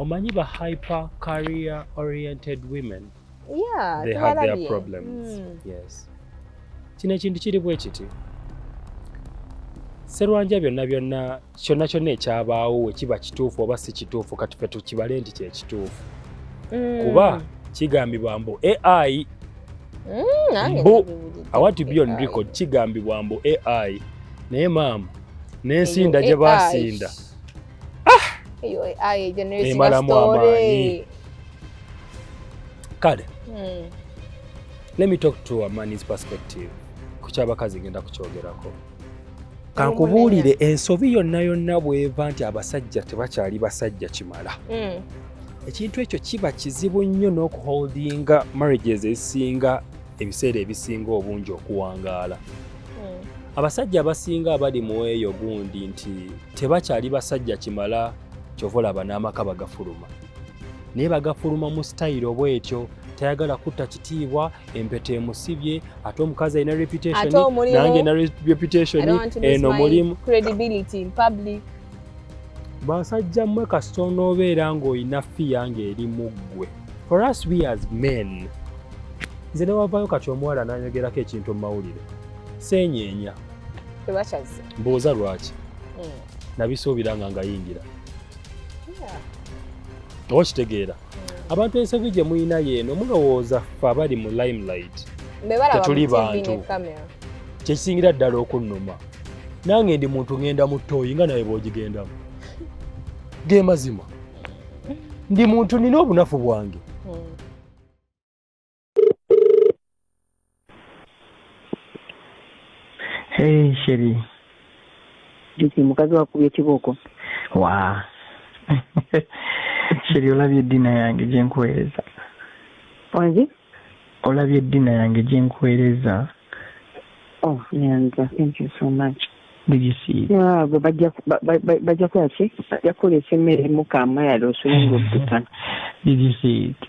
omanyi ba hyper career oriented women yeah, they have their problems mm. yes kino ekintu kiri bwe kiti serwanja byonna byonna kyonna kyonna ekyabaawo wekiba kituufu oba si kituufu kati fe tukibale nti kyekituufu mm. kuba kigambibwa mbu ai mm, mbu awati byo nriko kigambibwa mbu ai naye maama n'ensinda gye basinda ah! emalamu amaanyi kale hmm. let me talk to a man's perspective ku kyabakazi ngenda kukyogerako kankubuulire ensobi yonna yonna bweva nti abasajja tebakyali basajja kimala hmm. ekintu ekyo kiba kizibu nnyo n'okuholdinga marriages ezisinga ebiseera ebisinga obungi okuwangaala abasajja abasinga abali mu eyo gundi nti tebakyali basajja kimala kyova olaba n'amaka bagafuluma naye bagafuluma mu sitayiro bwetyo tayagala kutta kitiibwa empeta emusibye ate omukazi alina reputatnange na reputation eno mulimu basajja mmwe kasita onoobeera ng'olina fiya ng'eri mu ggwe for us we as men nze newavaayo kati omuwala nanyogerako ekintu mu mawulire seenyeenya tebakyazze mbooza lwaki hmm. nabisuubira nga ngayingira oba kitegeera hmm. abantu ensobi gye mulina yeeno mulowooza fe abali mu limelight tetuli bantu kyekisingira ddala okunnuma nange ndi muntu ngenda mu ttooyi nga naye bwogigendamu ge mazima ndi muntu nina obunafu bwange Hey, Sheri. Disi mukazi wakubye kibooko. Wa. Sheri olabye dina yange gye nkuweereza. Wangi? Olabye dina yange gye nkuweereza. Oh, Nyanza, thank you so much. Did you see? Yeah, gwe bajja bajja kukola ki? Bajja kukola ekyemmere mu kaama yali osulinga obutana. Did you see it?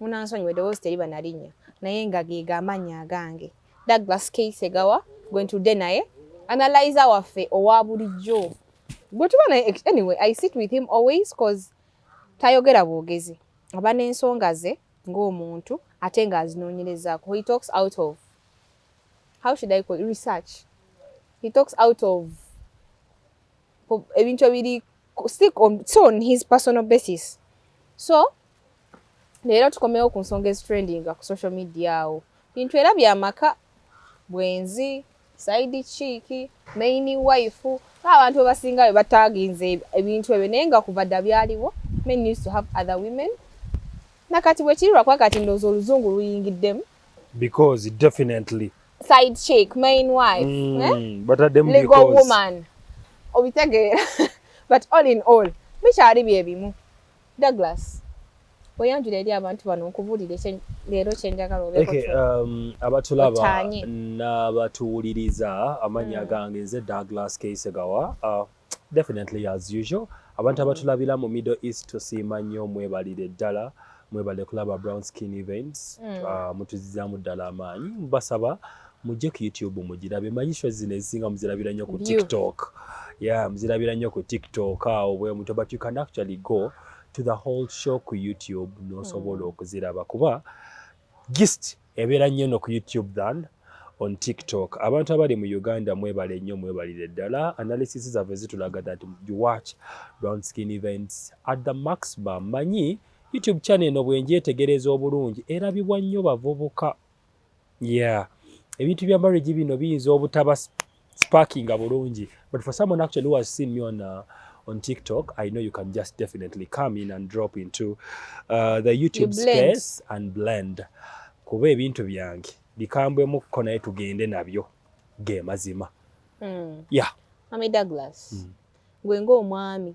munansonyiwa eddoboozi teriba na linnya naye nga geega amannya agange douglas k segawa gwe ntudde naye analyza waffe owa bulijjo gwe tuba naye anyway i sit with him always cause tayogera bwogezi aba n'ensonga ze ng'omuntu ate ng'azinoonyerezaako he talks out of how should i call research he talks out of ebintu ebiri stick on, so on his personal basis so leero tukomewo ku nsonga ezitrendinga ku social media awo bintu era byamaka bwenzi saidi kiiki maini wife abantu abasinga bwe bataginze ebintu ebyo naye nga kuva dda byaliwo men used to have other women nakati bwekiri lwakuba kati ndowooza oluzungu luyingiddemu because definitely side chick main wife mm, eh? but at them legal because... woman obitegeera but all in all bikyali bye bimu Douglas oyanjula eri abantu bano nkubuulire leero kyenjagala obeeke um, abatulaba n'abatuwuliriza amannya mm. gange nze Douglas Keisegawa uh, definitely as usual abantu abatulabira mu middle east tusiima nnyo mwebalire ddala mwebale kulaba brown skin events mm. uh, mutuzizaamu ddala amaanyi basaba mujje ku youtube mugirabe manyi sho zino ezisinga muzirabira nnyo ku tiktok ya yeah, muzirabira nnyo ku tiktok awo bwe muto but you can actually go to the whole show ku youtube nosobola mm. okuziraba kuba gist Ebeera nnyo no ku YouTube than on TikTok. Abantu abali mu Uganda mwebale nnyo mwebalire ddala. Analysis zaffe zitulaga that you watch Brown Skin events at the maximum. Manyi YouTube channel eno bwenjetegereza obulungi erabibwa nnyo bavubuka. Yeah. Ebintu bya marriage bino biyinza obutaba sparking bulungi but for someone actually who has seen me on uh, on TikTok, I know you can just definitely come in and drop into uh, the YouTube space and blend kuba ebintu byange bikambwemuko naye tugende nabyo ge mazima mm. yeah. Mami Douglas mm. gwe ng'omwami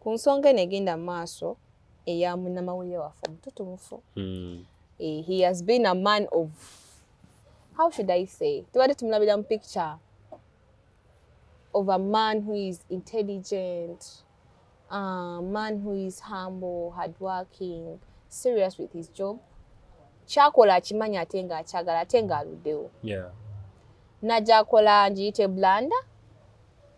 ku nsonga eno egenda mu maaso eya munnamawulire waffe omututumufu hmm. eh, he has been a man of how should i say tubadde tumulabira mu picture of a man who is intelligent a man who is humble hard working serious with his job kyakola akimanyi ate nga akyagala ate nga aluddewo yeah. najakola ngiyite blanda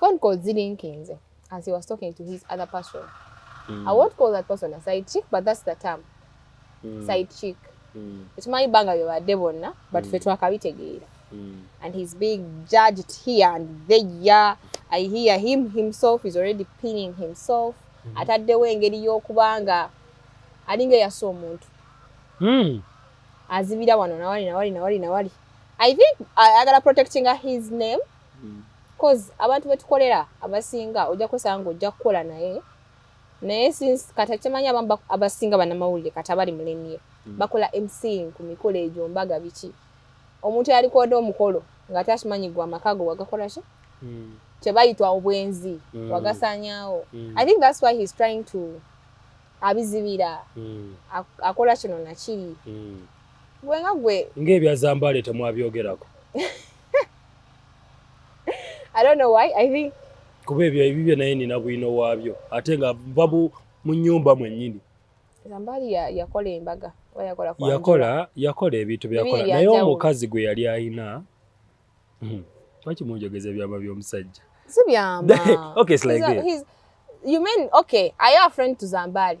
phone calls zilinkinze as he was talking to his other person mm. i won't call that person a side chick but that's the term mm. side chick mm. ekimanyi banga byebadde bonna but mm. fe twakabitegeera mm. and he's being judged here and there i hear him himself is already pinning himself mm. ataddewo engeri y'okuba nga alinga eyasa omuntu mm. azibira wano nawali nawali nawali nawali i think ayagala uh, protectinga his name cause abantu betukolera abasinga ojja kwesanga nga ojja kukola naye naye since kati akimanya abamu abasinga banamawulire kati abali mulemye mm. bakola mc ku mikolo egyo mbaga biki omuntu yalikoda omukolo nga ate akimanyi gwe amaka go wagakola ki mm. kyebayitwa obwenzi mm. wagasanyawo i think thats why heis trying to abizibira akola kino nakiri gwe nga gwe ngaebyazambale temwabyogerako I don't know why. I think kuba ebyo ebibyo naye nina bwino waabyo ate nga va mu nyumba mwennyini zambaali yakola embaga yakola yakola ebintu byakola naye omukazi gwe yali ayina hmm, lwaki munjogeza ebyama by'omusajja si byama okay it's like this you mean okay are you a friend to zambaali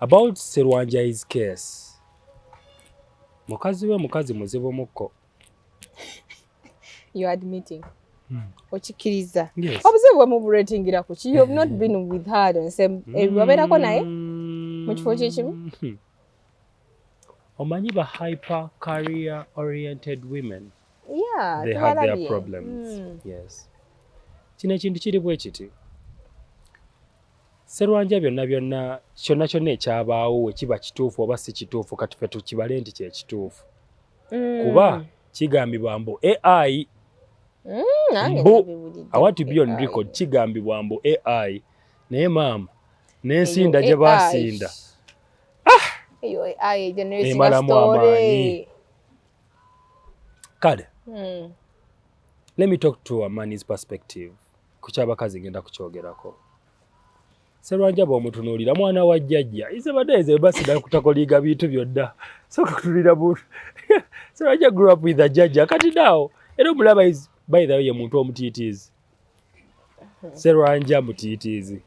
About Serwanja is case. Mukazi we mukazi muzibu muko. You admitting. Hmm. Okikiriza. Yes. Obuzibu bwe mu rating ira ku. You have not hmm. been with her on same. Eh, hmm. Wabera ko naye. Mu kifo kye kimu. Hmm. Omanyi ba hyper career oriented women. Yeah, they have their problems. Mm. Yes. Kino ekintu kiri bwe kiti. Serwanja byonna byonna kyonna kyonna ekyabaawo we kiba kituufu oba si kituufu kati fe tukibale nti kye kituufu mm. kuba kigambibwa mbu ai mm, mbu awati byon record kigambibwa mbu ai naye maama n'ensinda gye baasinda ah! emalamu amaanyi kale mm. let me talk to a man's perspective ku kyabakazi ngenda kukyogerako Serwanja bw'omutunuulira mwana wa jjajja ize badaeze basida kutakoliga bintu byonna soka kutunulira muntu Serwanja grew up with a jjajja kati naawo era omulaba is by the way muntu omutiitiizi Serwanja mutiitiizi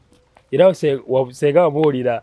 era senga wamuwulira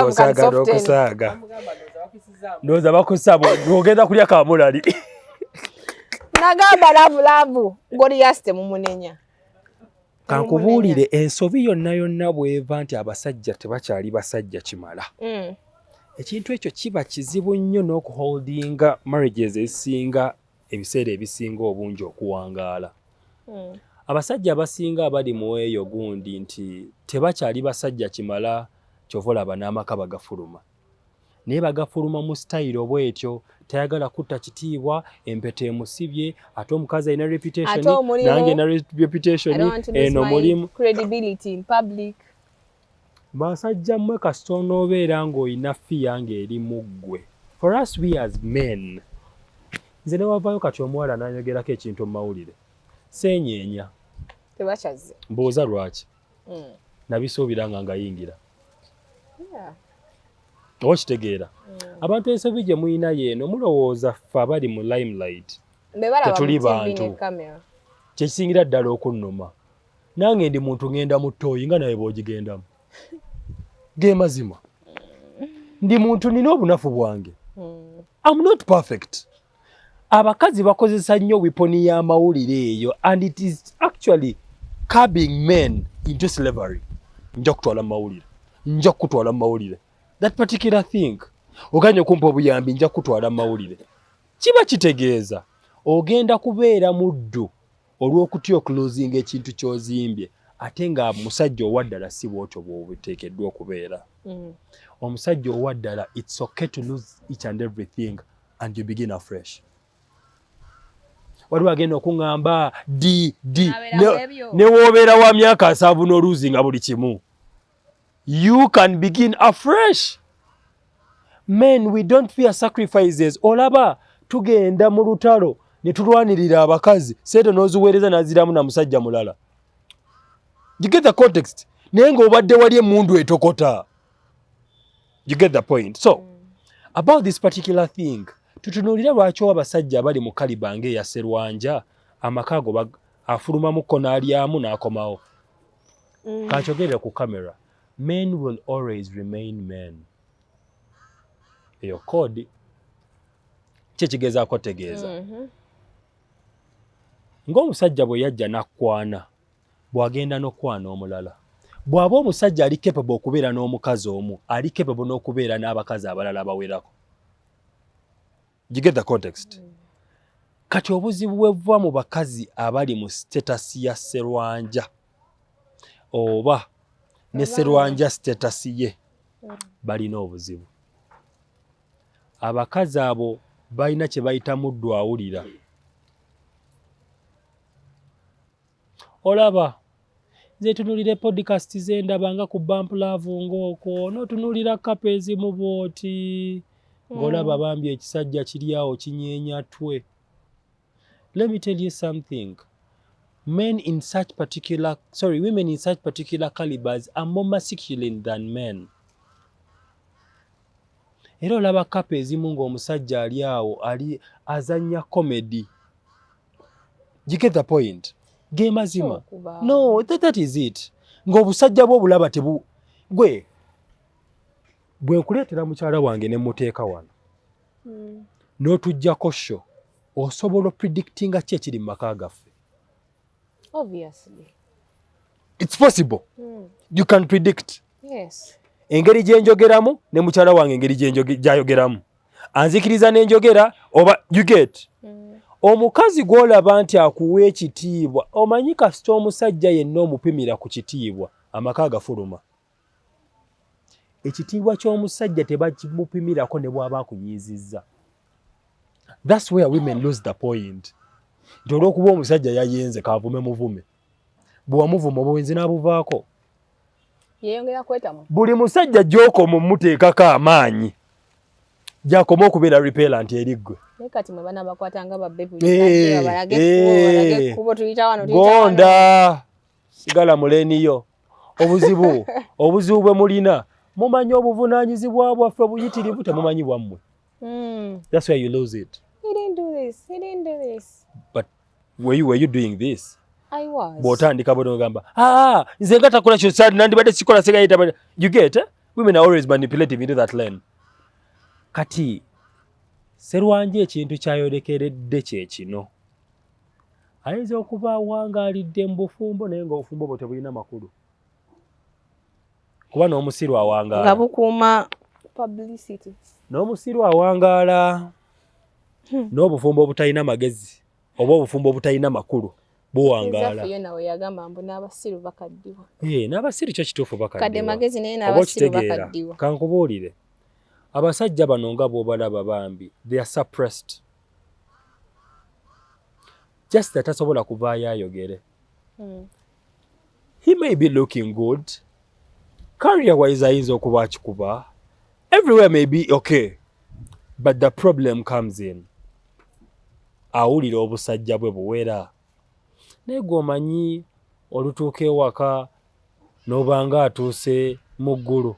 okusaaga ndowooza bakusaba ogenda kulya kamulali nagamba lavulavu goliyasi temumunenya kankubuulire ensobi yonna yonna bweva nti abasajja tebakyali basajja kimala mm. ekintu ekyo kiba kizibu nnyo n'okuholdinga marriages ezisinga ebiseera ebisinga obungi okuwangaala hmm. abasajja abasinga abali mu eyo gundi nti tebakyali basajja kimala kyova olaba n'amaka bagafuluma naye bagafuluma mu sitayiro bwetyo tayagala kutta kitiibwa empeta emusibye ate omukazi alina reputation nange na reputation eno mulimu credibility in public Basajja mmwe kasita onoobeera ng'olina fiya ng'eri mu ggwe for us we as men nze newavaayo kati omuwala nayogerako ekintu mu mawulire seenyeenya tebakyazze mbuuza lwaki hmm. nabisuubira nga ngayingira oba okitegeera hmm. abantu ensobi gye mulina yeeno mulowooza ffe abali mu limelight tetuli bantu kyekisingira ddala okunnuma nange ndi muntu ngenda mu tooyi nga naye bwogigendamu ge mazima ndi muntu nina obunafu bwange hmm. am not perfect abakazi bakozesa nnyo wiponi y'amawulire eyo and it is actually cabing men into slavery nja kutwala mu mawulire nja kukutwala mu mawulire that particular thing oganye okumpa obuyambi nja kukutwala mu mawulire kiba kitegeeza ogenda kubeera muddu olw'okutya okuluzinga ekintu kyozimbye ate nga musajja owaddala si bwotyo bwobiteekeddwa okubeera mm. omusajja owaddala its okay to lose each and everything and you begin afresh waliwo agenda okuŋamba dd newobeera wa myaka nsanvu n'oluzinga buli kimu you can begin afresh men we don't fear sacrifices olaba tugenda mu lutalo ne tulwanirira abakazi sente n'oziweereza n'aziramu na musajja mulala you get the context naye ng'obadde wali emundu etokota you get the point so mm. about this particular thing tutunuulire lwaki owa abasajja abali mu kaliba ng'eya serwanja amaka ago afulumamuko n'alyamu n'akomawo mm. kakyogerera ku camera men will always remain men eyo kodi kyekigezaako tegeeza mm -hmm. ng'omusajja bwe yajja n'akwana bw'agenda n'okwana omulala bw'aba omusajja ali capable okubeera n'omukazi omu ali capable n'okubeera n'abakazi abalala abawerako you get the context mm. kati obuzibu bwebuva mu bakazi abali mu status ya serwanja oba ne serwanja status ye mm. balina obuzibu abakazi abo balina kye bayita muddu awulira olaba nze tunulira podcast ze ndaba nga ku bump love ng'okwo n'otunulira kapa ezimu bwoti ng'olaba mm. bambi ekisajja kiri awo kinyeenya twe let me tell you something men in such particular sorry women in such particular calibers are more masculine than men era olaba kapa ezimu ng'omusajja ali awo ali azannya comedy you get the point ge mazima no that, that is it ng'obusajja bwo bulaba tebu gwe bwe nkuleetera mukyala wange ne muteeka wano hmm. n'otuggyako sho osobola opredictinga ki ekiri mu maka gaffe its possible mm. you can predict yes. engeri gye njogeramu ne mukyala wange engeri gyayogeramu anzikiriza nenjogera oba you get mm. omukazi gwolaba nti akuwa ekitiibwa omanyi kasita omusajja yenna omupimira ku kitiibwa amaka agafuluma ekitiibwa ky'omusajja tebakimupimirako ne bwaba akunyiizizza thats where women lose the point nti olwokuba omusajja yayenze kavume muvume bwewamuvuma obwenzi n'abuvaako yeyongera kwetamu buli musajja gy'okoma omuteekako amaanyi gyakoma okubeera repellant eri ggwe gonda sigala muleniyo obuzibu obuzibu bwe mulina mumanyi obuvunaanyizibwa bwaffe buyitirivu temumanyi bwammwe hmm. that's why you lose it he didn't do this he didn't do this but were you, were you doing this bwotandika bona ogamba ah, nze nga takola kyo sad nandibadde sikola segayita you get eh? women are always manipulative into that lane kati serwanje ekintu kyayolekeredde kyekino ayinza okuba wangalidde mu bufumbo naye nga obufumbo bwo tebulina makulu kuba n'omusiru awangaala nga bukuuma publicity n'omusiru awangaala hmm. n'obufumbo obutalina magezi oba obufumbo obutalina makulu buwangaala n'abasiru kyo kituufu bakaddiwa kankubuulire abasajja bano nga bwobalaba bambi they are suppressed just atasobola kuvaayo ayogere mm. he may be looking good career wise ayinza okuba akikuba everywhere may be okay but the problem comes in awulira obusajja bwe buwera naye gwomanyi olutuuka ewaka nobanga atuuse mu ggulu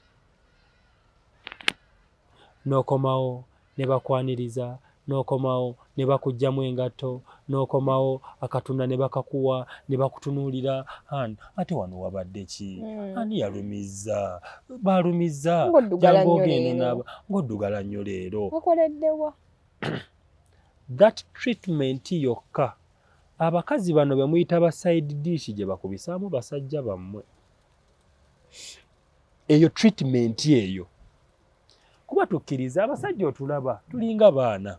nokomawo ne bakwaniriza n'okomawo ne bakuggyamu engatto n'okomawo akatunda ne bakakuwa ne bakutunuulira an ate wano wabadde ki hmm. ani yalumizza baalumizza jangu ogende naaba ng'oddugala nnyo leero okoleddewa that treatment yokka abakazi bano be muyita ba side dish gye bakubisaamu basajja bammwe eyo treatment eyo kuba tukkiriza abasajja otulaba tulinga baana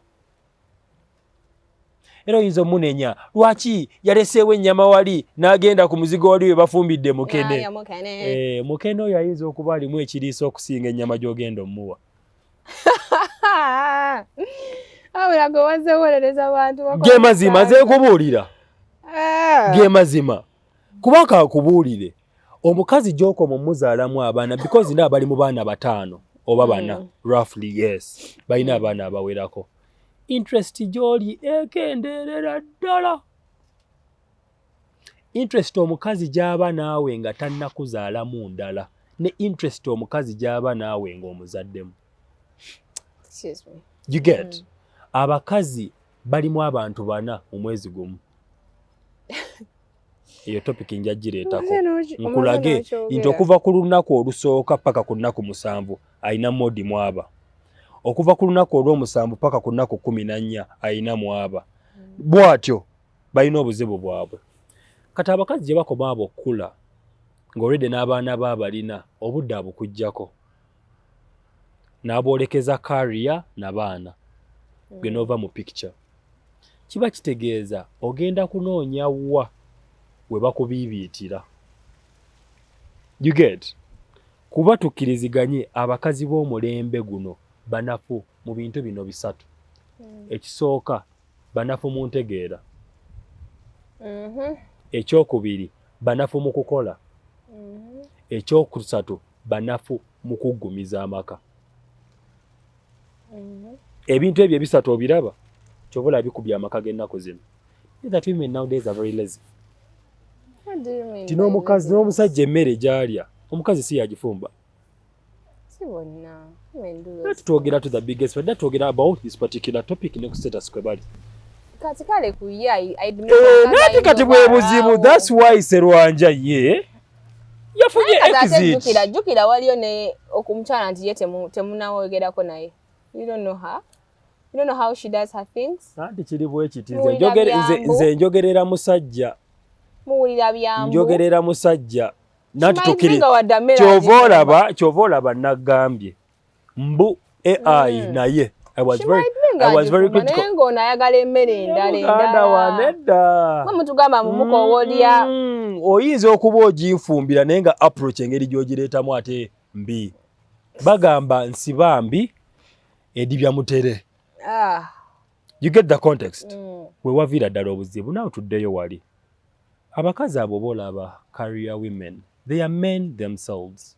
era oyinza omunenya lwaki yaleseewo ennyama wali n'agenda ku muzigo wali we bafumbidde mukene eh, mukene oyo ayinza okuba alimu ekiriisa okusinga ennyama gy'ogenda omuwa ge mazima nze nkubuulira ah. ge mazima kuba kakubuulire omukazi gyokoma omuzaalamu abaana because nda bali mu baana bataano oba bana mm. roughly yes balina mm. abaana abawerako interest gyoli ekendeerera ddala interest omukazi gyaba naawe nga tannakuzaalamu ndala ne interest omukazi gyaba naawe ngaomuzaddemu you get mm. abakazi balimu abantu bana mu mwezi gumu eyo topic nja gireetako nkulage nti okuva ku lunaku olusooka paka ku nnaku musanvu alina modi mwaba okuva ku lunaku olw'omusanvu paka ku nnaku kumi na nnya alina mwaba hmm. bwatyo balina obuzibu bwabwe kati abakazi gye bakoma abo okukula ng'olwedde n'abaana ba balina obudde abukuggyako n'aboolekeza kariya na baana mm. gwe n'ova mu picture kiba kitegeeza ogenda kunoonya wa we bakubiibiitira you get kuba tukkiriziganye abakazi b'omulembe guno banafu mu bintu bino bisatu mm. ekisooka banafu mu ntegeera mm-hmm. ekyokubiri banafu mu kukola mm-hmm. ekyokusatu banafu mu kuggumiza amaka mm-hmm. ebintu ebyo ebisatu obiraba kyova olaba bikubye amaka g'ennaku zino ti n'omukazi n'omusajja emmere gyalya omukazi si yagifumba twogera to the biggest twogera about this particular topic ne ku status kwe bali kati kale ku ye eh, nati kati bwe buzibu that's why serwanja ye yafunye exit jukira waliyo ne okumchala nti ye temu temunawogerako naye you don't know her you don't know how she does her things anti kiri bwe kiti nze njogere nze nze njogerera musajja muwulira byamu njogerera musajja nati tukiri kyovola ba kyovola ba nagambye mbu ai mm. naye I was very I was very critical. Naye ng'ono ayagala emmere endala endala. Wanedda. Mwe mutugamba mu mukowoolya. Mm, oyinza okuba oginfumbira naye nga approach engeri gy'ogireetamu ate mbi. Bagamba nsiba mbi edibya mutere. Ah. You get the context. Mm. We waviira ddala obuzibu nawe tuddeyo wali. Abakazi abo boolaba career women. They are men themselves.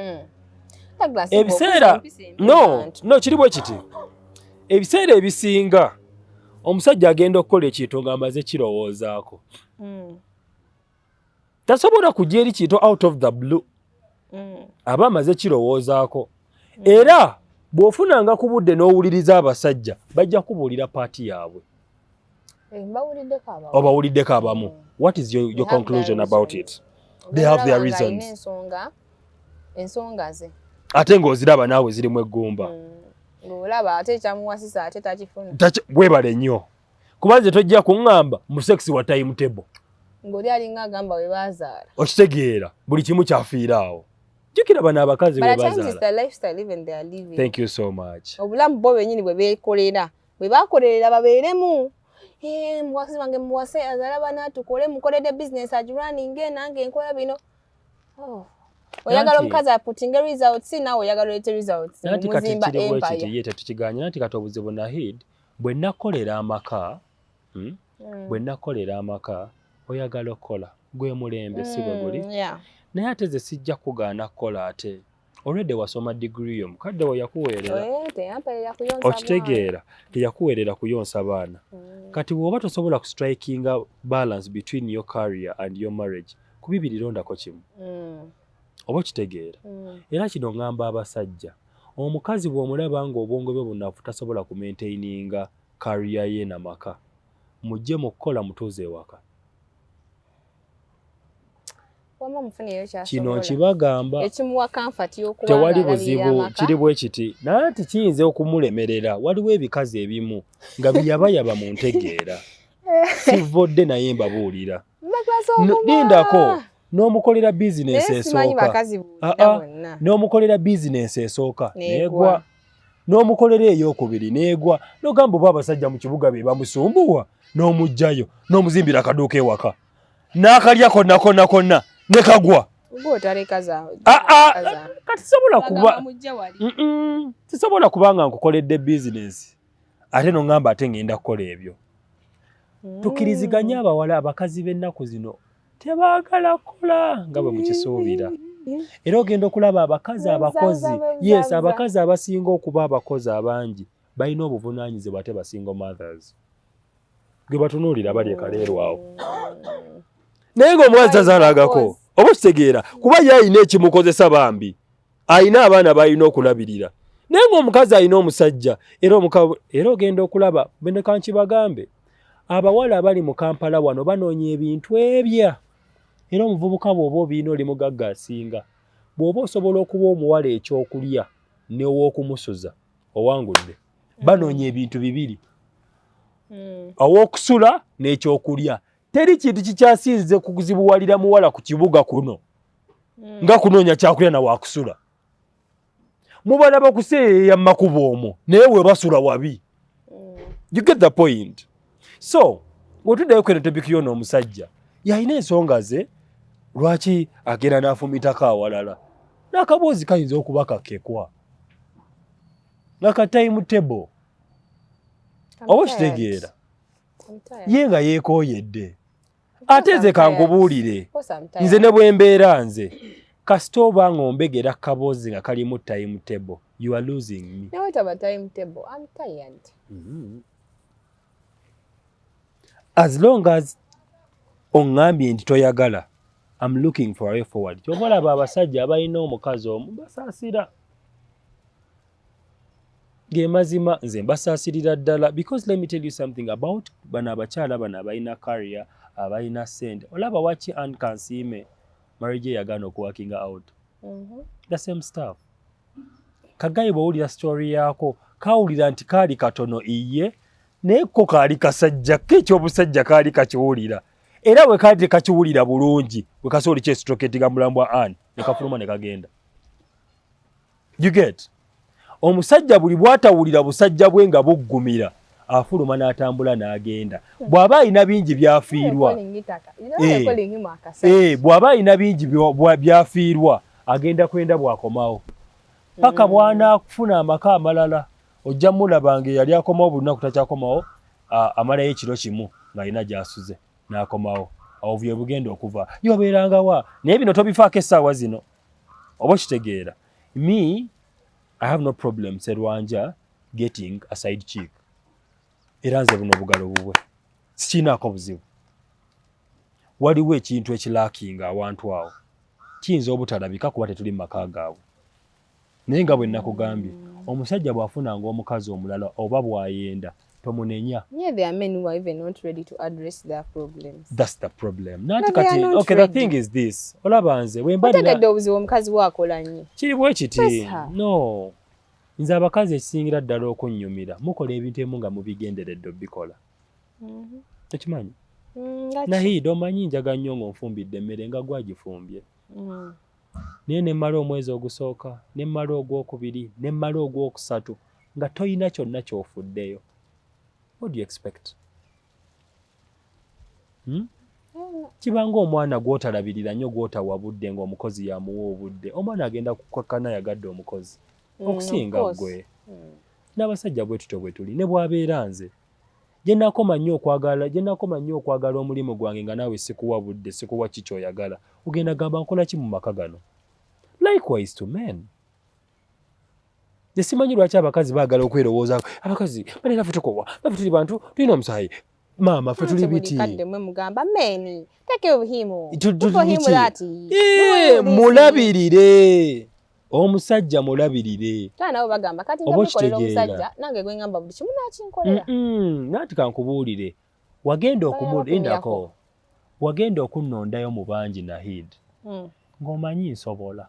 mm. ebiseera no no kiri bwe kiti ebiseera ebisinga omusajja agenda okukola ekintu nga amaze kirowoozaako mm. tasobola kujja eri kintu out of the blue mm. aba amaze kirowoozaako mm. era bw'ofunanga ku budde n'owuliriza abasajja bajja kubuulira paati yaabwe Eh, obawuliddeko abamu mm. what is your, your conclusion about it they have their reasons ensonga ze ate ng'oziraba naawe zirimu eggumba mm. olaba ate ekyamuwasisa ate takifuna webale nnyo kuba nze tojja kuŋŋamba mu sex wa time table ng'oli alinga agamba we baazaala okitegeera buli kimu kyafiira awo jjukira bano abakazi we baazaala obulamu bo bwenyini bwe beekolera bwe bakolerera babeeremu eh, muwasi wange muwase azala bana tukole mukolede bizinesi agirwaninge nange nkola bino oh. oyagala omukazi aputinge results nawe oyagala olete results muzimba empire tetukiganye nati kati obuzibu nahid bwe nakolera amaka hmm? mm. bwe nakolera amaka oyagala okukola gwe mulembe mm, si bwe guli hmm, yeah. naye ate ze sijja kugaana kukola ate already wasoma degree yo mukadde wo yakuweerera eh, okitegeera teyakuweerera kuyonsa baana mm. kati bwoba tosobola ku strikinga balance between your career and your marriage kubibiri londako kimu mm. oba okitegeera mm. era kino ngamba abasajja omukazi bwomulaba nga obwongo bwe bunafu tasobola ku maintaininga career ye na maka mujje mu kukola mutuuze ewaka kino nkibagamba tewali buzibu kiri bwe kiti naye nti kiyinza okumulemerera waliwo ebikazi ebimu nga biyabayaba mu ntegeera sivodde naye mbabuulira lindako n'omukolera bizinensi esooka n'omukolera bizinensi esooka negwa n'omukolera eyokubiri n'egwa n'ogamba oba abasajja mu kibuga be bamusumbuwa n'omugjayo n'omuzimbira akaduuka ewaka n'akalya konna konna konna ne kagwa ah, ah, kati sobola kuba sisobola kuba nga nkukoledde bizinesi ate noŋamba ate ŋŋenda kukola ebyo mm. tukiriziganye abawala abakazi b'ennaku zino tebaagala kukola nga bwe mukisuubira era ogenda okulaba abakazi abakozi yes abakazi abasinga okuba abakozi abangi balina obuvunaanyizibwa ate basinga mothers gwe batunuulira bali ekaleerwawo naye ng'omukazi tazaalagako oba okitegeera kuba ye alina ekimukozesa bambi alina abaana balina okulabirira naye ngaomukazi alina omusajja era omuka era ogenda okulaba benekankibagambe abawala abali mu kampala wano banoonya ebintu ebya era omuvubuka bwoba obiina oli mugagga asinga bwoba osobola okuba omuwala ekyokulya newokumusuza owangudde banoonya ebintu bibiri hmm. awokusula n'ekyokulya teri kintu kikyasinze kuzibuwalira muwala ku kibuga kuno hmm. nga kunoonya kyakulya na wakusula mubala bakuseeyeya mumakubo omwo naye webasula wabi hmm. you get the point so wetuddayo kweno topiki yona omusajja yalina ensonga ze lwaki agenda n'afumitako awalala n'akaboozi kayinza okuba kakekwa nakataimu table oba okitegeera ye nga yeekooyedde ate nze kankubuulire nze ne bwembeera nze kasita oba nga ombegera kaboozi nga kalimu time table you are losing me nawe taba time table i'm tired mm -hmm. as long as ongambye nti toyagala am looking for a forward kyobalaba abasajja abalina omukazi omu basaasira gemazima nze mbasaasirira ddala because let me tell you something about bano abakyala bano abalina carrier abalina sente olaba waki an kansiime marriage yagaana okuwakinga out mhm. the same stuff kagayi bwowulira story yaako kawulira nti kaali katono iye naye ko kaali kasajja ke ekyobusajja kaali kakiwulira era we kaali tekakiwulira bulungi wekasooli kyesitoketiga mulambwa an nekafuluma nekagenda you get omusajja buli bwatawulira busajja bwe nga buggumira afuluma n'atambula n'agenda bw'aba alina bingi byafiirwa eh, eh, bw'aba alina bingi byafiirwa agenda kwenda bw'akomawo paka mm. bw'anaafuna amaka amalala ojja mulaba nga eyali akomawo buli lunaku takyakomawo amalayo ekiro kimu ng'alina gy'asuze n'akomawo awo bye bugenda okuva yobeerangawa naye bino tobifaako essaawa zino oba okitegeera me i have no problem serwanja getting a side chick era nze buno obugalo bubwe sikiinaako buzibu waliwo ekintu ekilakinga awantu awo kiyinza obutalabika kuba tetuli mu maka gaabwe Naye nga bwe nakugambye omusajja bw'afunanga omukazi omulala oba bw'ayenda tomunenya. Yeah, there are men who are even not ready to address their problems. That's the problem. Nanti no, kati, okay, ready. the thing is this. Olaba nze, wemba nina... Otegedde obuzibu omukazi wakola nnyo. Kiri bwe kiti. No. Nze abakazi ekisingira ddala okunnyumira mukola ebintu emu nga mubigenderedde obikola. Mm-hmm. Okimanyi? Mm, Nahiida omanyi njaga nnyo ng'onfumbidde emmere nga gwagifumbye. Mm. Naye ne mmala omwezi ogusooka, ne mmala ogw'okubiri, ne mmala ogw'okusatu nga tolina kyonna ky'ofuddeyo. What do you expect? Hmm? Kiba ng'omwana gw'otalabirira nnyo gw'otawa budde ng'omukozi yamuwa obudde. Omwana agenda kukkakkana yagadde omukozi. Mm, okusinga ggwe. Mm. N'abasajja bwe tutyo bwe tuli ne bw'abeera nze. Gye nakoma nnyo okwagala, gye nakoma nnyo okwagala omulimu gwange nga naawe sikuwa budde, sikuwa ki ky'oyagala. Ogenda gamba nkola ki mu maka gano? Likewise to men. Nesimanyi lwaki abakazi baagala okwerowoozaako. Abakazi bane naffe tukowa, naffe tuli bantu, tulina omusaayi. Maama ffe tuli biti. Mulabirire. omusajja mulabirire oba okitegeera nanti kankubuulire wagenda okumulindako wagenda okunnondayo mu bangi nahid hmm. ng'omanyi nsobola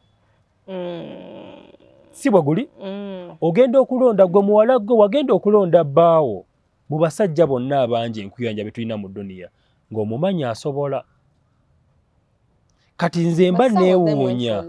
hmm. si bwe guli hmm. ogenda okulonda gwe muwala gwe wagenda okulonda bbaawo mu basajja bonna abangi enkuyanja bye tulina mu duniya ng'omumanyi asobola kati nze mba newuunya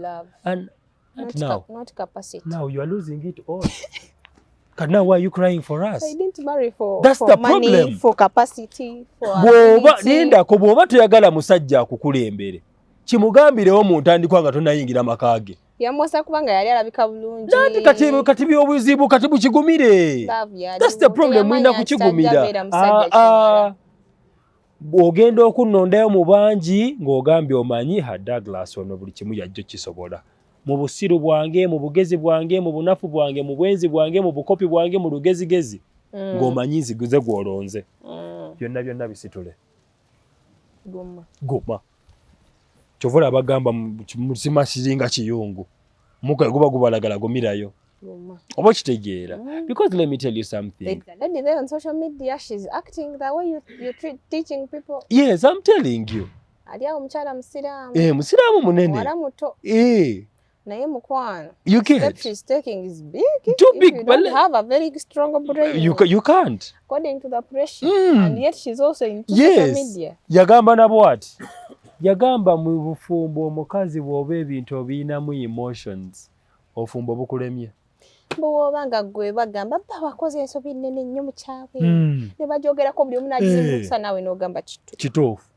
bwoba lindako bwoba toyagala musajja akukulembere kimugambirewo mu ntandikwa nga tonayingira maka ge yamwosa kubanga yali alabika bulungi nati kati kati byobuzibu kati bukigumire that's the problem mulina kukigumira ah, ah. ogenda okunnondayo mu bangi ng'ogambye omanyi ha Douglas ono buli kimu yajjo kisobola mu busiru bwange mu bugezi bwange mu bunafu bwange mu bwenzi bwange mu bukopi bwange mu lugezigezi mm. ng'omanyi nziguze gw'olonze mm. byonna byonna bisitule guma kyovula abagamba mukima kiringa kiyungu muka guba gubalagala gumirayo oba okitegeera mm. because let me tell you something lady there on social media she's acting the way you, you treat teaching people yes i'm telling you ali awo omukyala musiraamu eh musiraamu munene wala muto eh naye mukwano you get steps she's taking is big too big you don't have a very strong brain you, you can't according to the pressure mm. and yet she's also in yes. social media yagamba na what yagamba mu bufumbo omukazi bwoba ebintu obiyinamu emotions ofumbo bukulemye bwoba nga gwe bagamba ba wakoze ensobi nene nnyo mukyawe mm. ne bajogerako buli omu nagizimusa eh. nawe nogamba kituufu kituufu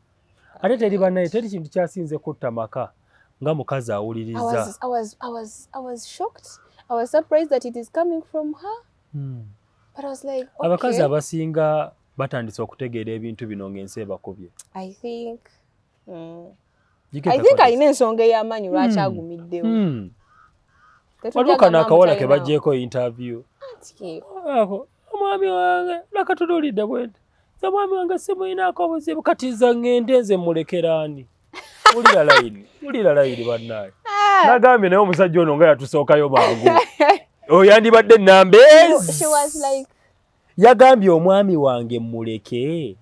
ate teri banaye teri kintu kyasinze kutta maka nga mukazi awuliriza abakazi abasinga batandise okutegeera ebintu bino ng'ensi ebakubye alina ensonga ey'amaanyi lwaki hmm. agumiddewo hmm. waliwo kano akawala ke bagyeko interview omwami wange nakatunulidde bwenti nze omwami wange simuyinaako obuzibu kati nza ngende nze mulekeraani ulira layini ulira layini bannaaye ah. nagambye naye omusajja ono nga yatusookayo mangu oyandibadde oh, ennamba ezi yagambye omwami wange muleke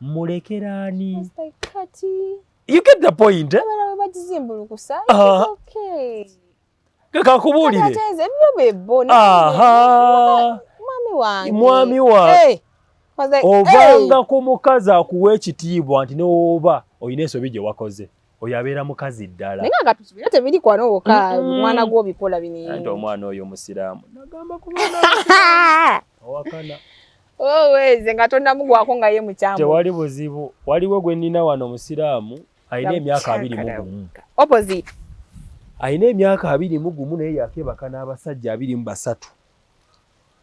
mulekeraani you get the point eh? kakakubuulire mwami wange ovanga ku mukazi akuwa ekitiibwa nti newoba olina ensobi gye wakoze oyo abeera mukazi ddala naye nga tusubira tebiri kwano woka omwana gwo obikola bini ante omwana oyo omusiraamu nagamba kubana owakana oweeze oh, nga tonnamugwako nga ye mukyamu tewali buzibu waliwo gwe nnina wano omusiraamu alina emyaka abiri mu gumu opposite alina emyaka abiri mu gumu naye yakebaka n'abasajja abiri mu basatu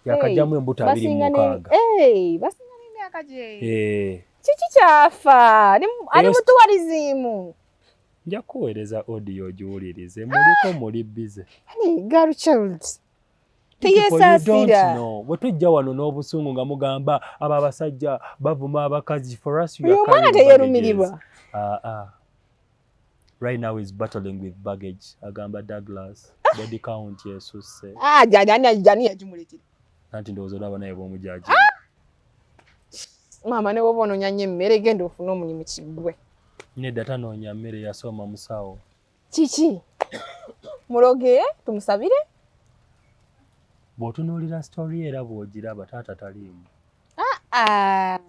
yakajjamu embuto abiri mu mukaaga basinga n'emyaka gye eh. kiki kyafa ali mutuwaliziimu nja kuweereza audio ogiwulirize muliko muli bize girl child teyesaasira bwe tujja wano n'obusungu nga mugamba abo abasajja bavuma abakazi for us uyo omwana teyerumirirwa ah, ah. right now is battling with baggage agamba douglas ah. body count yesusse jani yagimuletera nanti ndowooza olaba naye bwomujaji maama ne woba onoonya nnyo emmere genda ofune omulimu kiggwe nedda tanoonya mmere yasoma musawo kiki muloge tumusabire bw'otunuulira sitori era bw'ogiraba taata taliimu ah, ah.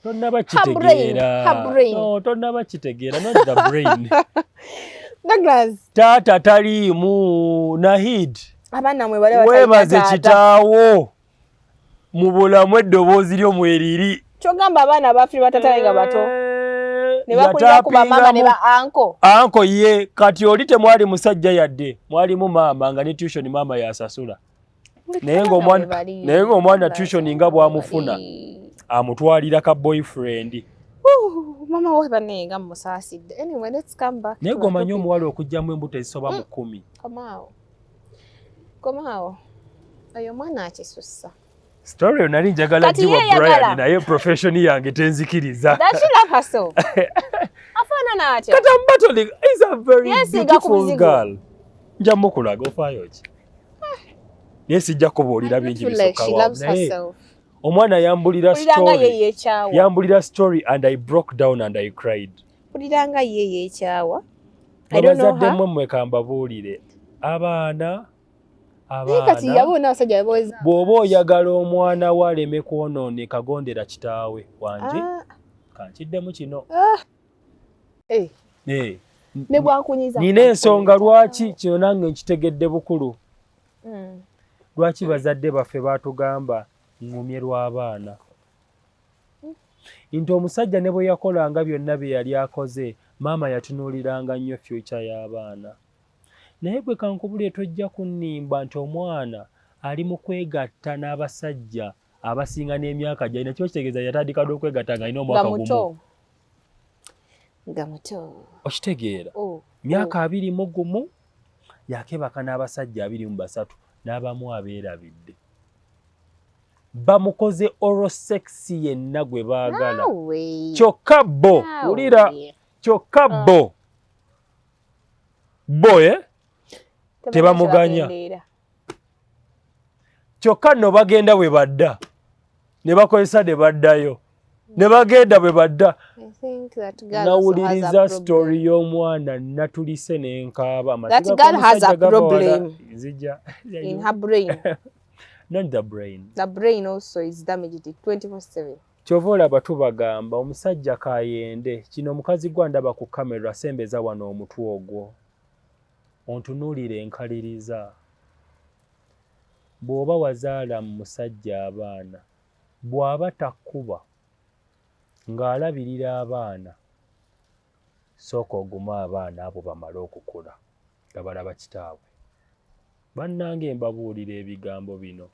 tonnaba kitegeera tonnaba kitegeera not the brain Douglas. Tata taliimu Nahid. Abana mwe bale bataita tata. Webaze kitaawo. mu bulamu eddoboozi lyo mweriri kyogamba abaana abafiri batatale nga bato eh, nebakulira ku bamama ne ba anko anko ye kati oli temwali musajja yadde mwalimu maama nga ne tution maama yasasula naye ngaomwana tution nga bwamufuna amutwalira ka boyfriend mama we bane nga musaasidde anyway let's come back naye gwomanyi omuwala okujjamu embuto ezisoba mu mm. kkumi komaawo oyo omwana akisussa story yo nali njagala jiwa Brian naye profession yange tenzikiriza afaanana atya kata mbatoli is a very yes, beautiful girl nja mukulaga ofaayo ki naye sijja kubuulira bingi bisokawa naye omwana yambulira story yambulira story and i broke down and i cried mpulira nga ye yekyawa abazadde mwe mwe kambabuulire abaana kati yabona abasajja beboza bw'oba oyagala omwana wo aleme kwonooneka gondera kitaawe wangi ah. kankiddemu kino ah. eh. Eh. nina ensonga lwaki kino nange nkitegedde bukulu hmm. lwaki bazadde baffe batugamba ngumye lw'abaana nti omusajja ne bwe yakolanga byonna bye yali akoze maama yatunuuliranga nnyo fyuca y'abaana naye gwe kankubulire tojja kunnimba nti omwana ali mu kwegatta n'abasajja abasinga n'emyaka gyalina kiba kitegeeza yatandika dde okwegatta nga alina omwaka gumu nga muto okitegeera oh, myaka oh. abiri mu gumu yakebaka n'abasajja abiri mu basatu n'abamu abeerabidde bamukoze oro sexy yenna gwe baagala kyokka bo wulira kyokka ah. bo bo e tebamuganya kyokka nno bagenda bwe badda ne bakozesa ne baddayo ne bagenda bwe badda nawuliriza story y'omwana natulise nenkaaba amatgaaazija not the brain the brain also is damaged 24/7 kyova olaba tubagamba omusajja kayende kino omukazi gwa ndaba ku kamera asembeza wano omutwe ogwo ontunuulira enkaliriza bw'oba wazaala mu musajja abaana bw'aba takkuba ng'alabirira abaana sooka ogume abaana abo bamale okukula nga balaba kitaabwe. Bannange mbabuulira ebigambo bino,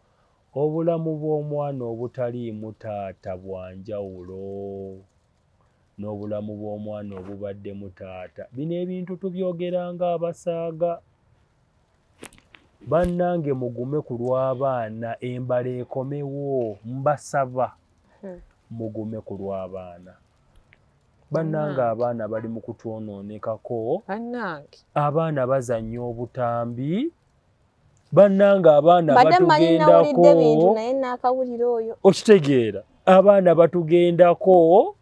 obulamu bw'omwana obutaliimu taata bwa njawulo n'obulamu bw'omwana obubaddemu taata. Bino ebintu tubyogeranga abasaaga. Bannange mugume ku lw'abaana embala ekomewo, mbasaba hmm. mugume ku lw'abaana. bannange abaana bali mu kutwonoonekako abaana bazannya obutambi bannange abaana batugendako okitegeera abaana batugendako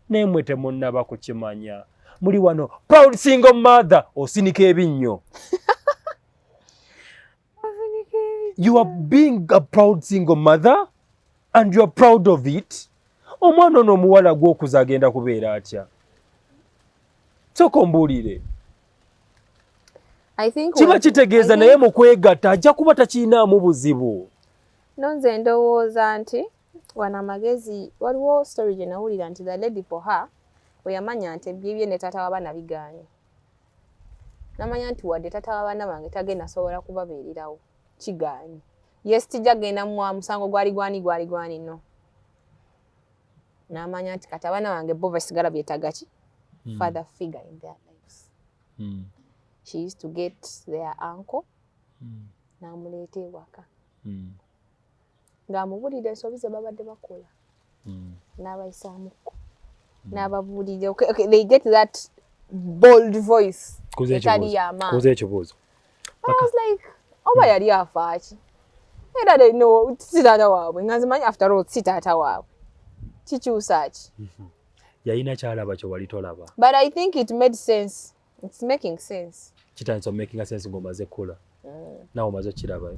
naye mwe temunnaba kukimanya muli wano proud single mother osinika ebinnyo you are being a proud single mother and you are proud of it omwana ono omuwala gwokuza agenda kubeera atya soka ombuulire kiba kitegeeza naye mu kwegatta ajja kuba takirinaamu buzibu no nze ndowooza nti wano amagezi waliwo story gye nawulira nti the lady for her weyamanya nti ebyebye ne taata w'abaana bigaanye namanya nti wadde tata wabaana bange tagenda sobola kubabeererawo kigaanyi yes tijja genda mwa musango gwali gwani gwali gwani no namanya nti kati abaana bange bo basigala byetaga ki hmm. father figure in their lives mm. she used to get their uncle mm. namuleeta ewaka mm. ng'amubulira ensobi ze babadde bakola mm. n'abayisaamukko mm. n'ababuulira they get that bold voice etali yamaanikuza ekibuuzo like oba yali afaaki era no si taata waabwe nga nzimanyi after all si taata waabwe kikyusa ki mm-hmm. yalina kyalaba kye wali tolaba but i think it made sense It's making sense. Kitandise making sense ng'omaze kula. Mm. Nawe omaze okirabayo.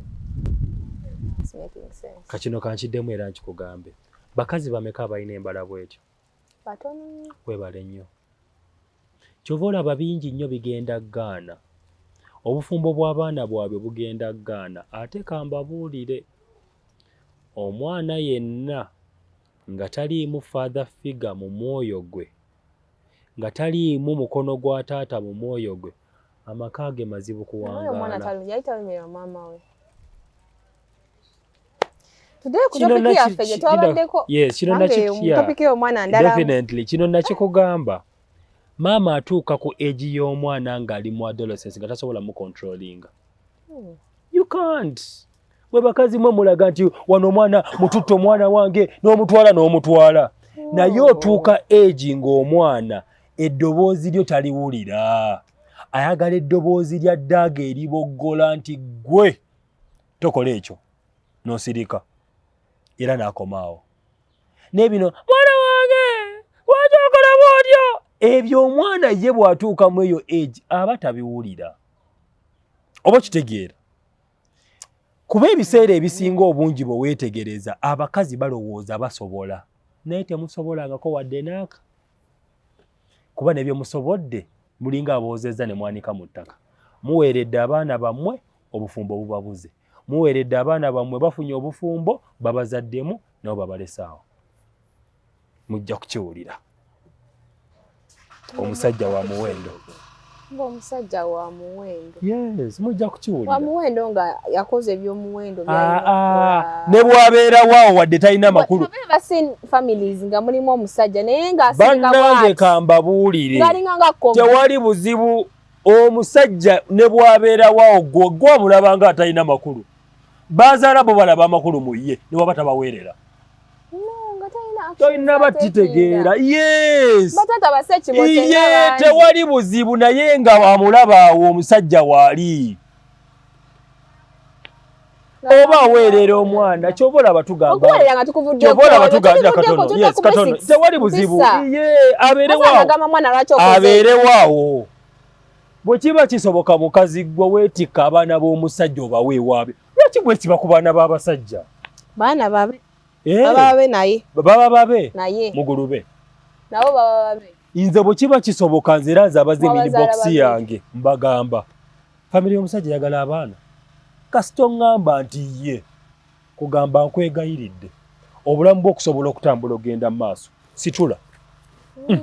It's making sense. Kakino kankiddemu era nkikugambe. Bakazi bameka abalina embala bwetyo? Batono. Webale nnyo. Kyova olaba bingi nnyo bigenda Ghana. Obufumbo bw'abaana bwabwe bugenda Ghana ate kambabuulire omwana yenna nga taliimu father figure mu mwoyo gwe nga taliimu mukono gwa taata mu mwoyo gwe amaka ge mazibu kuwangaalakinonakino nakikugamba maama atuuka ku egi y'omwana ng'ali mu adolescence nga tasobola mucontrolinga hmm. you can't Mwe bakazi mwe mulaga nti wano omwana mututto omwana wange n'omutwala n'omutwala naye oh. otuuka egi ng'omwana eddoboozi lyo taliwulira ayagala eddoboozi lya ddaaga eriboggola nti ggwe tokola ekyo n'osirika era n'akomaawo naye bino mwana wange lwaki okolamu otyo ebyo omwana ye bw'atuukamu eyo egi aba tabiwulira oba okitegeera kuba ebiseera ebisinga obungi bwe weetegereza abakazi balowooza basobola naye temusobolangako wadde naaka kuba ne bye musobodde mulinga aboozezza ne mwanika mu ttaka muweeredde abaana bammwe obufumbo bubabuze muweeredde abaana bammwe bafunye obufumbo babazaddemu nabo babalesaawo mujja kukiwulira omusajja wa muwendo ng'omusajja wa muwendo yes mujja kukiwulira wa muwendo nga yakoze ebyomuwendo ah, ah. ne bwabeera waawo wadde talina makulu families nga mulimu omusajja naye ngabanange kambabuulire tewali buzibu omusajja ne bwabeera waawo gwe gwamulaba nga atalina makulu bazaala bo balaba amakulu mu ye ne waba tabaweerera tolina bakitegeera yesiye tewali buzibu naye nga wamulabaawo omusajja waali oba aweerera omwana kyoba olaba tugambatewali buzibu ye abeerewaawo bwe kiba kisoboka mukazi gwe weetikka abaana b'omusajja obaweewaabe Lwaki bwekiba ku baana b'abasajja? Baana babe. Eh. Baba babe naye. Baba babe. Naye. Mugulube. Nabo baba babe. Inze bwe kiba kisoboka nze era nze abaze mini box yange mbagamba. Family y'omusajja yagala abaana. Kasito ngamba nti ye kugamba nkwegayiridde obulamu bw'okusobola okutambula ogenda mu maaso situla. Mm.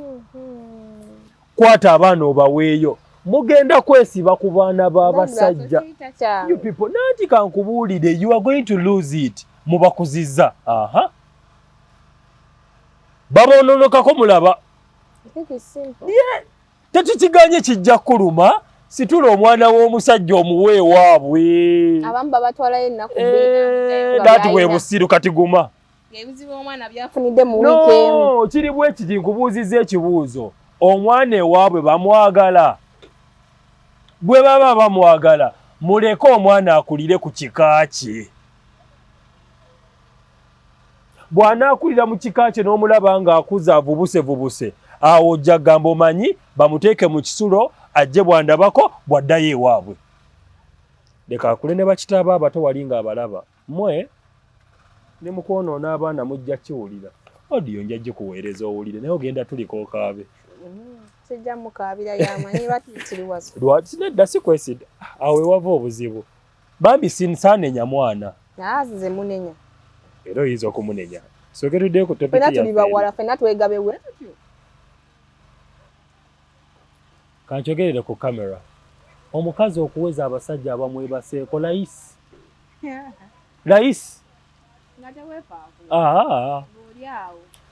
kwata abaana obaweeyo mugenda kwesiba ku baana b'abasajja nanti kankubuulire you are going to lose it mubakuzizza aha baboononokako mulaba tetukiganye kijja kuluma situla omwana w'omusajja omuwe ewaabwe eh, dati bwe busiru kati guma ebizibu omwana byafunidde mu wiiki emu no kiri bwe kiti nkubuuzizza ekibuuzo omwana ewaabwe bamwagala bwe baba bamwagala muleke omwana akulire ku kika kye bw'anaakulira mu kika kye n'omulaba ng'akuza avubusevubuse awo ojja kugamba omanyi bamuteeke mu kisulo ajje bwandabako bw'addayo ewaabwe leka akule ne bakitaaba abato wali ng'abalaba mwe ne mukwonoona abaana mujja kiwulira odiyo nja gikuweereza owulire naye ogenda tulika okaabe kijja mukaabira yamanyi batitiriwaza lwaki nedda sikwesida awo ewava obuzibu bambi sinsaanenya mwana naazize munenya era oyinza okumunenya soke tudde ku topiki fena tuli bawala fena twegabewe kanchogerere ku camera omukazi okuweza abasajja abamwebaseeko layisi layisi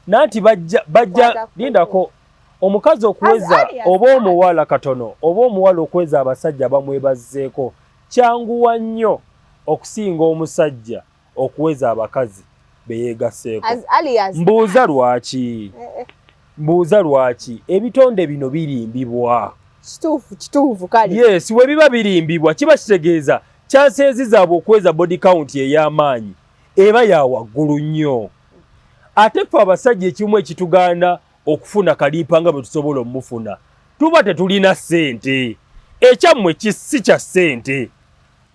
nanti bajja bajja lindako omukazi okuweza oba omuwala katono oba omuwala okuweza abasajja bamwebazzeeko kyanguwa nnyo okusinga omusajja okuweza abakazi beyegasseeko mbuuza lwaki eh, eh. mbuuza lwaki ebitonde bino birimbibwa kituufu kituufu kale yes we biba birimbibwa kiba kitegeeza kyanseezi zaabwe okuweza body count ey'amaanyi eba ya waggulu nnyo ate ffe abasajja ekimu ekituganda okufuna kaliipa nga bwe tusobola omufuna tuba tetulina ssente ekyammwe kisi kya ssente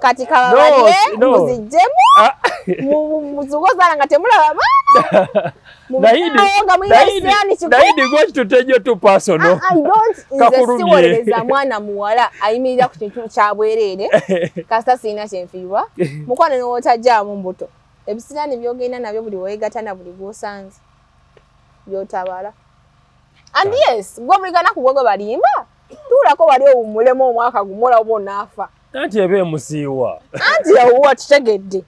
kati kababalire muzijjemu ah. muzuuka ozaala nga temulaba baana kakuwolereza ah, ah, mwana muwala ayimirira ku kintu kya bwereere kasita sirina kyenfiirwa mukwano newootajaamu mbuto ebisiraani byogenda nabyo buli weegata na buli gwosanze byotabala and yes gwe buli ganaku gwegwe balimba tuulako wali owummulemu omwaka gumu olaba onaafa anti eba emusiiwa anti ewuwa tutegedde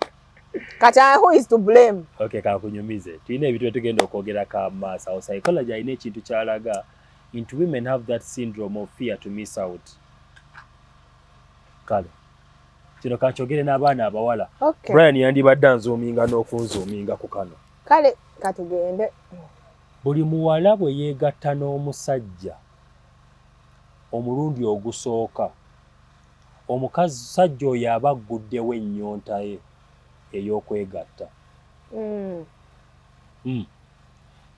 kati who is to blame okay kakunyumize tulina ebintu byetugenda okwogera ka maaso awo psychology alina ekintu kyalaga into women have that syndrome of fear to miss out kale kino kakyogere n'abaana abawala brian yandibadde anzuuminga n'okunzuuminga ku kano kale katugende buli muwala bwe yeegatta n'omusajja omulundi ogusooka, omusajja oyo aba agguddewo ennyonta ye ey'okwegatta. Mm. Mm.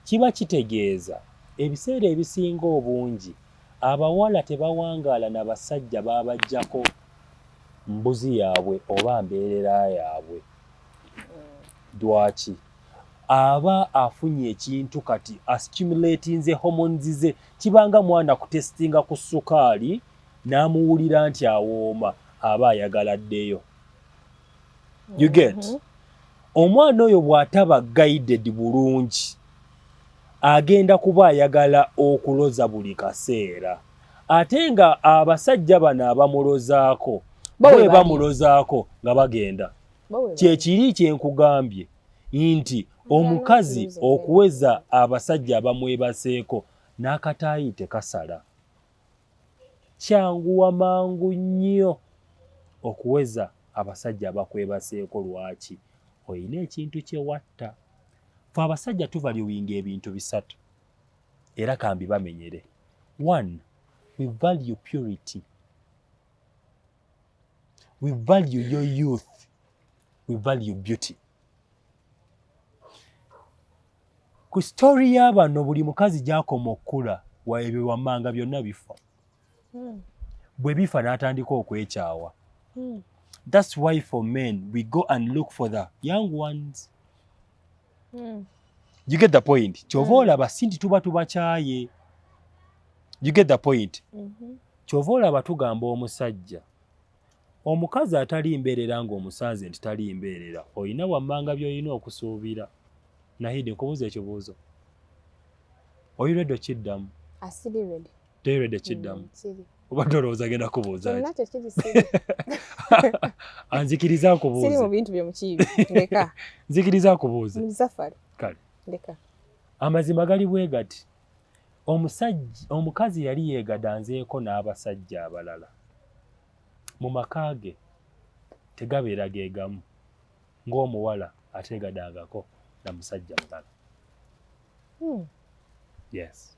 Kiba kitegeeza ebiseera ebisinga obungi abawala tebawangaala na basajja babajjako mbuzi yaabwe oba mbeerera yaabwe. Mm. Lwaki? aba afunye ekintu kati ascumulatinze hormones ze kibanga mwana kutestinga ku sukaali n'amuwulira nti awooma aba ayagala ddeyo you get mm -hmm. omwana oyo bw'ataba guided bulungi agenda kuba ayagala okuloza buli kaseera ate nga abasajja bano abamulozaako bwe bamulozaako nga bagenda kyekiri kyenkugambye nti omukazi okuweza abasajja abamwebaseeko n'akataayi tekasala kyanguwa mangu nnyo okuweza abasajja abakwebaseeko lwaki olina ekintu kyewatta fe abasajja tuvaluwinga ebintu bisatu era kambi bamenyere one we value purity we value your youth we value beauty ku story y'abano buli mukazi gyakoma okukula waebyo wammanga byonna bifa hmm. bwe bifa n'atandika okwekyawa hmm. that's why for men we go and look for the young ones mm. you get the point kyova mm. olaba sinti tuba tubakyaye you get the point mm -hmm. kyova olaba tugamba omusajja omukazi atali mbeerera ng'omusanze nti tali mbeerera olina wammanga by'olina okusuubira nahide nkubuuza ekibuuzo oyiredde okiddamu Teerede kiddamu. Mm, Obadde olowooza agenda kubuuza. Kyonna tekiri siri. Anzikiriza akubuuze. Siri mu bintu byo mukiibi. Ndeka. Nzikiriza akubuuze. Mu safari. Kale. Ndeka. Amazima gali bwe gati. Omusajja omukazi yali yeegadanzeeko n'abasajja abalala. Mu maka ge tegabeera ge gamu ng'omuwala ateegadangako na musajja mulala. Hmm. Yes.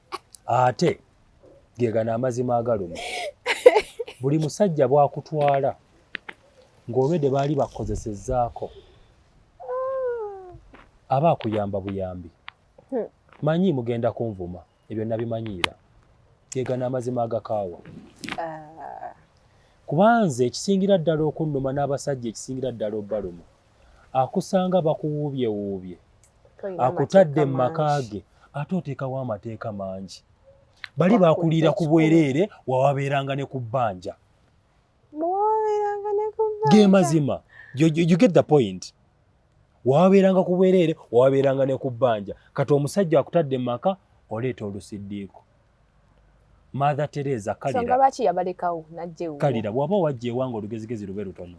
ate gegana amazima agaluma buli musajja bwakutwala ng'olwedde baali bakukozesezaako aba akuyamba buyambi hmm. manyi mugenda kunvuma ebyo nabimanyiira gegana amazima agakaawa ah. kubanze ekisingira ddala okunnuma n'abasajja ekisingira ddala obbalumu akusanga bakuwuubyewuubye akutadde mu maka ge ate oteekawo amateeka mangi bali bakuliira ku bwereere wawabeeranga ne ku bbanja ge mazima you get the point wawabeeranga ku bwereere wawabeeranga ne ku bbanja kati omusajja akutadde mu maka oleeta olusiddiiko mother teresa kalira bwaba wajja ewanga olugezigezi lube lutono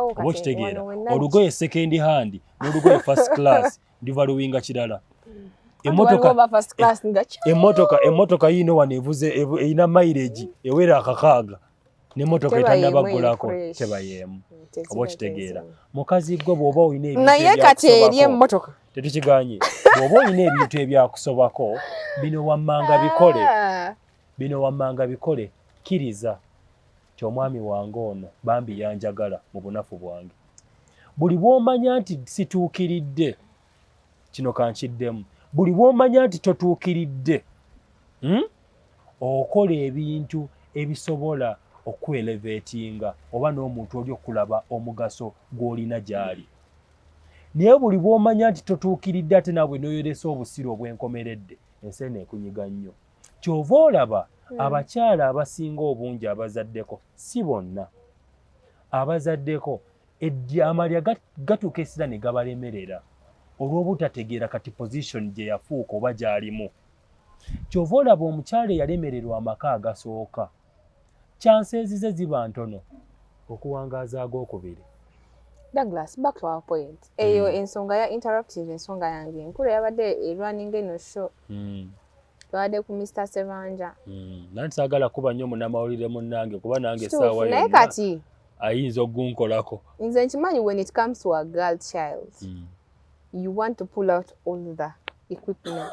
oba okitegeera olugoye second hand n'olugoye first class ndiva luwinga kirala emotoka yiino wano evuze erina mileage ewera akakaaga nemotoka etanabaggulako tebayeemu mm, oba okitegeera mukazi gwe bwoba olinaye kati eri emotoka tetukiganye bwoba olina ebintu ebyakusobako bino wammanga bikole ah. bino wammanga bikole kkiriza nti omwami wange ono bambi yanjagala mu bunafu bwange buli bwomanya nti situukiridde kino kankiddemu buli bwomanya nti totuukiridde hmm? okola ebintu ebisobola okuelevetinga oba n'omuntu oli okulaba omugaso gw'olina gy'ali naye buli bwomanya nti totuukiridde ate naawe noyolesa obusiru obwenkomeredde ensi eno ekunyiga nnyo kyova olaba hmm. abakyala abasinga obungi abazaddeko si bonna abazaddeko amalya gatuuka esira ne gabalemerera olw'obutategeera kati position gye yafuuka oba gy'alimu kyova olaba omukyala eyalemererwa amaka agasooka chances ze ziba ntono okuwangaaza ag'okubiri. Douglas, back to our point. Mm. Eyo mm. ensonga ya interruptive ensonga yange enkulu yabadde erunning eno show. Mm. Twabadde ku Mr. Sebanja. Mm. Nanti saagala kuba nnyo munnamawulire munnange kuba nange essaawa yonna. Naye kati ayinza ogunkolako. Nze nkimanyi when it comes to a girl child mm. you want to pull out all the equipment.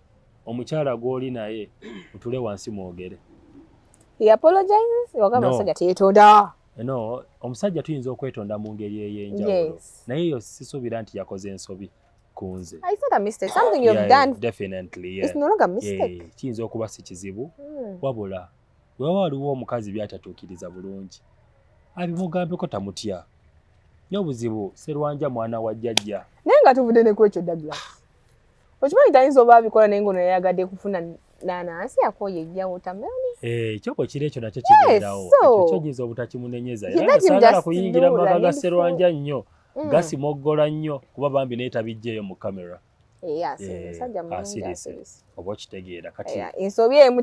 omukyala gwoli naye mutule wansi mwogere no omusajja tuyinza okwetonda mu ngeri ey'enjawulo naye eyo sisuubira nti yakoze ensobi kunze kiyinza okuba si kizibu hmm. wabula wewaba waliwo omukazi byatatuukiriza bulungi abimugambeko tamutya nyo obuzibu serwanja mwana wa jjajja naye nga tuvudde nekwekyo douglas okimanyi tayinza oba abikola naye ngono yayagadde kufuna nanansi yakoye ejja wotameroni eh, ekyoko kiri ekyo nakyo kigendawo kyokiza obutakimunenyeza era sagala kuyingira mu maka ga serwanja nnyo mm. gasimoggola nnyo kuba bambi naye tabijjeeyo mu kamera eh, asirise eh, oba okitegeera kati ensobi emu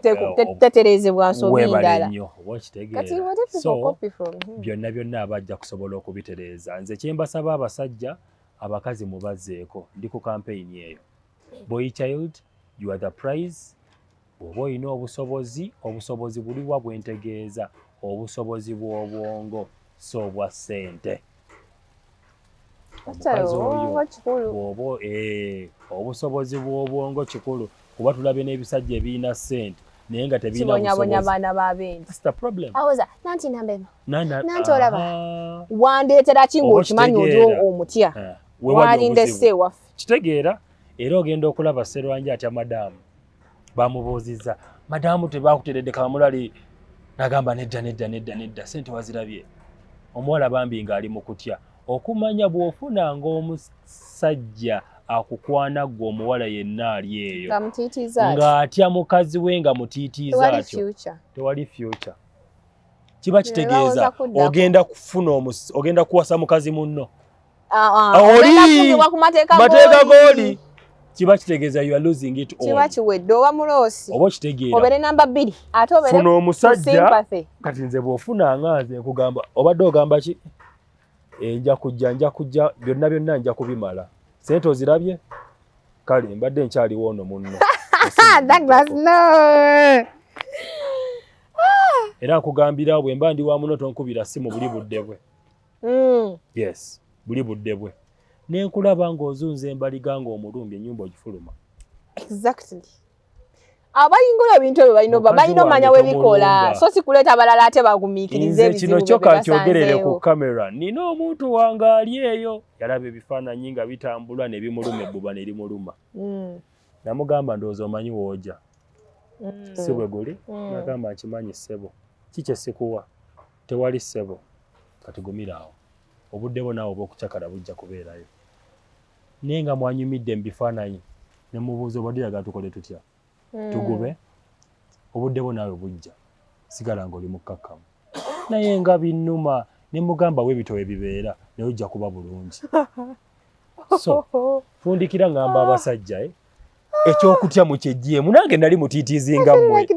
teterezebwa nsobi ndala oba okitegeera so byonna byonna aba ajja kusobola okubitereeza nze kyembasaba abasajja abakazi mubazeeko ndi ku kampeyini eyo boy child you are the prize bw'oba olina obusobozi obusobozi buliwa bwentegeeza obusobozi bw'obwongo si obwa ssente omukazi oyo bw'oba eh, obusobozi bw'obwongo kikulu kuba tulabye n'ebisajja ebirina ssente naye nga tebinabonyabonya baana babenanti olaba wandeetera ki ngaokimanyi oli omutya eh, walindese ewaffe kitegeera era ogenda okulaba serwanji atya madaamu bamubuuzizza madaamu tebakuteredde kamulali nagamba nedda nedda nedda nedda sente wazirabye omuwala bambi ng'ali mu kutya okumanya bw'ofuna ng'omusajja akukwana ggwe omuwala yenna ali eyo ng'atya mukazi we nga mutiitiiza atyo tewali fyuca kiba kitegeeza ogenda kufuna ogenda kuwasa mukazi munno ah, ah, oli mateeka g'oli kiba kitegeeza you are losing it all kiba kiwedde oba muloosi oba okitegeera obere namba bbiri ate obere funa omusajja kati nze bw'ofuna nga nze nkugamba obadde ogamba ki eh, nja kujja nja kujja byonna byonna nja kubimala sente ozirabye kale mbadde nkyaliwo ono munno era nkugambira bwe mba ndi wa muno tonkubira si mu buli budde bwe mm. yes buli budde bwe nenkulaba ng'ozunza embaliga ng'omulumbye ennyumba ogifuluma exactly abayingula ebintu ebyo balina balina omanya webikola so sikuleeta balala ate bagumiikirize kino kyoka nkyogerere ku kamera nina omuntu wange ali eyo yalaba ebifaananyi nga bitambula nebimuluma ebbuba nerimuluma mm. namugamba ndowooza omanyi wooja mm. si bwe guli mm. nagamba nkimanyi ssebo kikye sikuwa tewali ssebo katigumira awo obudde bo naawe obwokucakala bujja kubeerayo naye nga mwanyumidde mu bifaananyi ne mubuuza obadde oyagala tukole tutya hmm. tugube obudde bwo naawe bujja sigala nga oli mukkakkamu naye nga binnuma ne mugamba we bitowe bibeera naye ojja kuba bulungi so fundikira ngamba abasajja eh? ekyokutya mukyejjeemu nange nali mutiitiizinga mmwe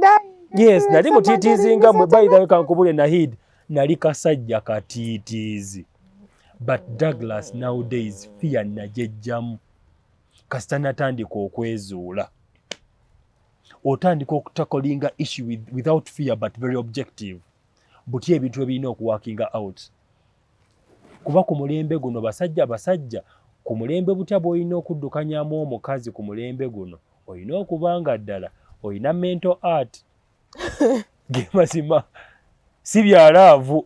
yes nali mutiitiizinga mmwe bayidhawe kankubule nahid nali kasajja katiitiizi but douglas nowdays fear najejjamu kasita natandika okwezuula otandika okutakolinga issue with, without fear but very objective butya ebintu ebirina okuwakinga out kuba ku mulembe guno basajja basajja ku mulembe butya bwolina okuddukanyamu omukazi ku mulembe guno olina okuba nga ddala olina mental art gemazima si byalaavu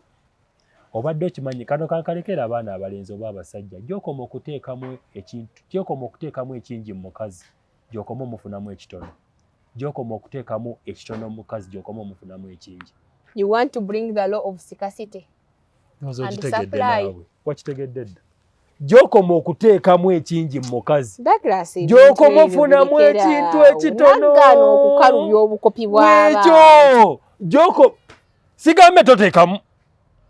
obadde okimanyi kano kankalekera abaana abalenzi oba abasajja gyokoma okuteekamu ekintu gyokoma okuteekamu ekingi mu mukazi gyokoma omufunamu ekitono gyokoma okuteekamu ekitono mu mukazi gyokoma omufunamu ekingi you want to bring the law of scarcity wakitegedde dda gyokoma okuteekamu ekingi mu mukazi gyokoma ofunamu ekintu ekitono okukalubya obukopi bwabwekyo sigambe toteekamu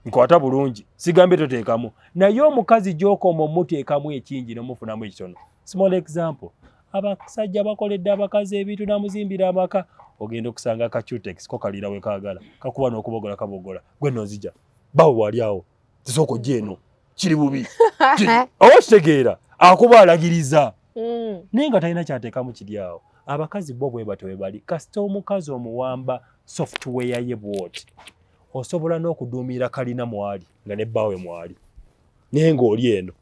nkwata bulungi sigambe toteekamu naye omukazi gyokoma omuteekamu ekingi nomufunamu ekitono small example abasajja bakoledde abakazi ebintu namuzimbira amaka ogenda okusanga kacutex ko kalira wekagala kakuba nokubogola kabogola gwe nozija bawo wali awo sisooka ojja eno kiri bubi oba kitegeera akuba alagiriza mm. naye nga talina kyateekamu kiri awo abakazi bo bwe batyo bwe bali kasita omukazi omuwamba software ye bwoti osobola n'okuduumira kalina mwali nga ne bbaawe mwali naye ng'oli eno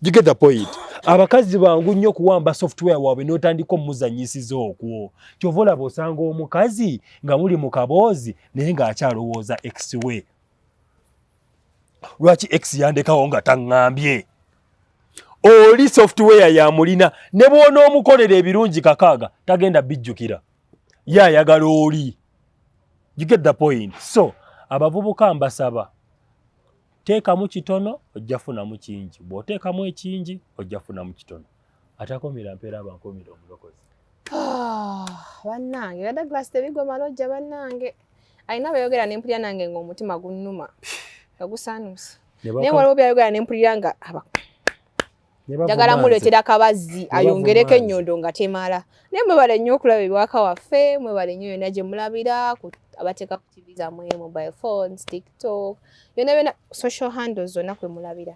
you get the point abakazi bangu nnyo okuwamba software waabwe n'otandika omuzanyisiza okwo kyova olaba osanga omukazi nga muli mu kaboozi naye ng'akyalowooza exway lwaki ex yandekawo nga taŋŋambye oli software yamulina ne bwonoomukolera ebirungi kakaaga tagenda bijjukira ye ayagala oli you get the point so abavubuka mbasaba teekamu kitono ojja funamu kingi bw'oteekamu ekingi ojja funamu kitono atakomera mpeera abankomera omulokozi ah, bannange era douglas tebigwa malojja bannange alina beyogera nempulira nange nga omutima gunnuma nga gusanuuse naye waliwo byayogera nempulira nga njagala muleetera kabazzi ayongereko ennyondo nga temala naye mwebale nnyo okulaba ebiwaka waffe mwebale nnyo yonna gye mulabira abateeka ku tv zamwe mobile phones tiktok yonna byona social handles zonna kwe mulabira